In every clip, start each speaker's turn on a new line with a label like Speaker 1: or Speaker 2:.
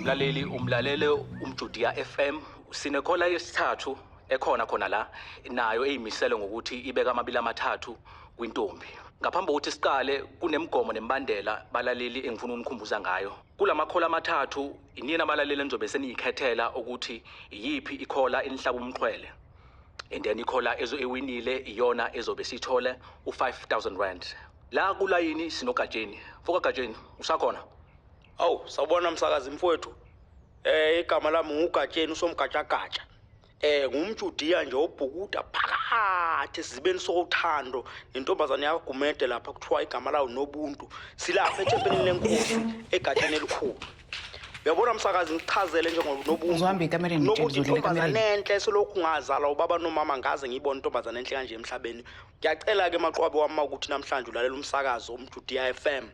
Speaker 1: mlaleli umlalele umjudiya FM sinekhola yesithathu ekhona khona la nayo eyimisele ngokuthi ibeka amabili amathathu kwintombi ngaphambi kokuthi siqale kunemigomo nemibandela balaleli engifuna unikhumbuza ngayo kulamakhola amathathu inina abalaleli enizobe seniyikhethela ukuthi iyiphi ikhola enihlaba umxhwele and then ikhola ezo ewinile iyona ezobe sithole u5000 rand La kulayini sinoGatsheni. Mfoka Gatsheni, usakhona? Awu,
Speaker 2: sawubona msakazi mfowethu. Eh igama lami nguGatsheni usomgajagaja. Eh ngumjudiya nje obhukuda phakathi sizibeni sothando nentombazane yakho Gumede lapha kuthiwa igama lawo nobuntu. Silapha ethempelini lenkosi eGatsheni elikhulu. Uyabona msakazi ngichazele nje ngoNobuntu. Uzohamba ekamereni Nobuntu
Speaker 3: nje, ngizodlula intombazane ekamereni.
Speaker 2: enhle selokhu ngazala ubaba nomama ngaze ngiyibona intombazane enhle kanje emhlabeni. Ngiyacela ke maqwabe wami ukuthi namhlanje ulalela umsakazo umjudiya FM.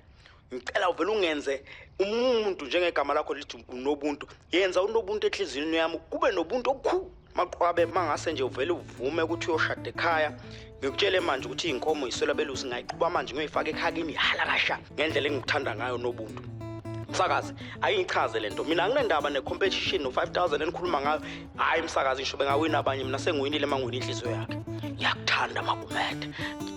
Speaker 2: Ngicela uvele ungenze umuntu njengegama lakho lithi unobuntu. Yenza unobuntu enhliziyweni yami kube nobuntu okukhulu. Maqwabe mangase nje uvele uvume ukuthi uyoshada ekhaya. Ngikutshele manje ukuthi inkomo iswela belusi ngayiqhuba manje ngiyoyifaka ekhakini halakasha. ngendlela engikuthanda ngayo nobuntu msakazi ayingichaze lento mina anginendaba ne competition no 5000 enikhuluma ngayo hayi msakazi ngisho bengawina abanye mina sengiwinile mangwini inhliziyo yakhe ngiyakuthanda magumede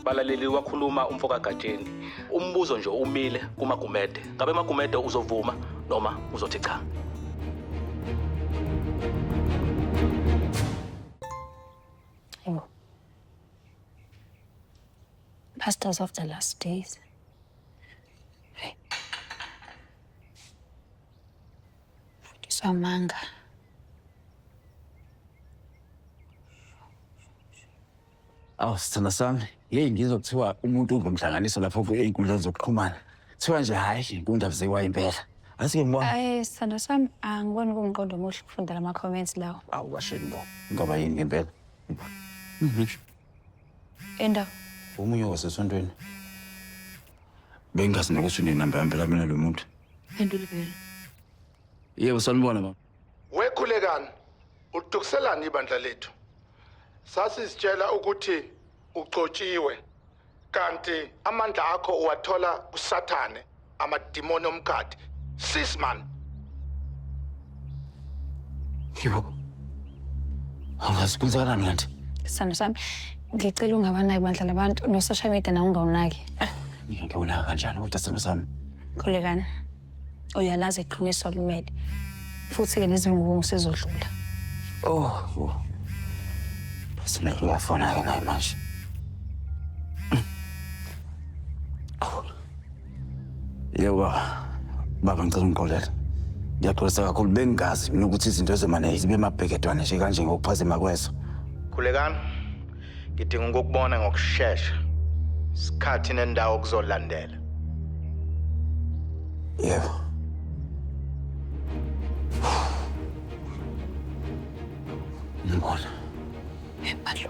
Speaker 2: balaleli
Speaker 1: wakhuluma umfo kagatsheni umbuzo nje umile kumagumede ngabe magumede uzovuma noma uzothi cha
Speaker 4: Pastors of the last days. Hey. Mfundisi wamanga.
Speaker 5: Awu sithanda sami, yeyi ngizwa kuthiwa umuntu ungumhlanganiso lapho ey'nkundleni zokuxhumana. Kuthiwa nje hhayi le nkundla kuziwa impela. Asike ngibona. Hayi sithando sami
Speaker 4: angiboni kuwumqondo omuhle ukufunda lama-comments lawo. Awu kasheni bo.
Speaker 5: Ngoba yini ngempela?
Speaker 4: Enda. Omunye
Speaker 5: wasesontweni. Bengazi nokuthi unenamba yami phela mina lo muntu. Phendula vele. Yebo sanibona baba. Wekhulekani?
Speaker 6: Udukiselani ibandla lethu? Sasizitshela ukuthi ugcotshiwe. kanti amandla akho uwathola kusathane amadimoni omkhathi sis man
Speaker 5: yebo angazi kwenzakalani kanti sithando sami
Speaker 4: ngicela ungabanaki bandla labantu no-social media nawo ungawunaki ngiyangewunaka
Speaker 5: kanjani kodwa sithando sami khulekani
Speaker 4: Uyalazi iqiniso limele. Futhi-ke lezi ngubo ngisezodlula.
Speaker 5: Oh, yo. Sina uyafona-ke naye manje. Yebo baba. Baba ngicela ungixolele. Ngiyaxolisa kakhulu bengingazi mina ukuthi izinto ezomane zibe mabhekedwane nje kanje ngokuphazima kweso. Khulekani.
Speaker 6: Ngidinga ukukubona ngokushesha. Isikhathi nendawo kuzolandela.
Speaker 5: Yebo. Ngibona.
Speaker 4: Embalo.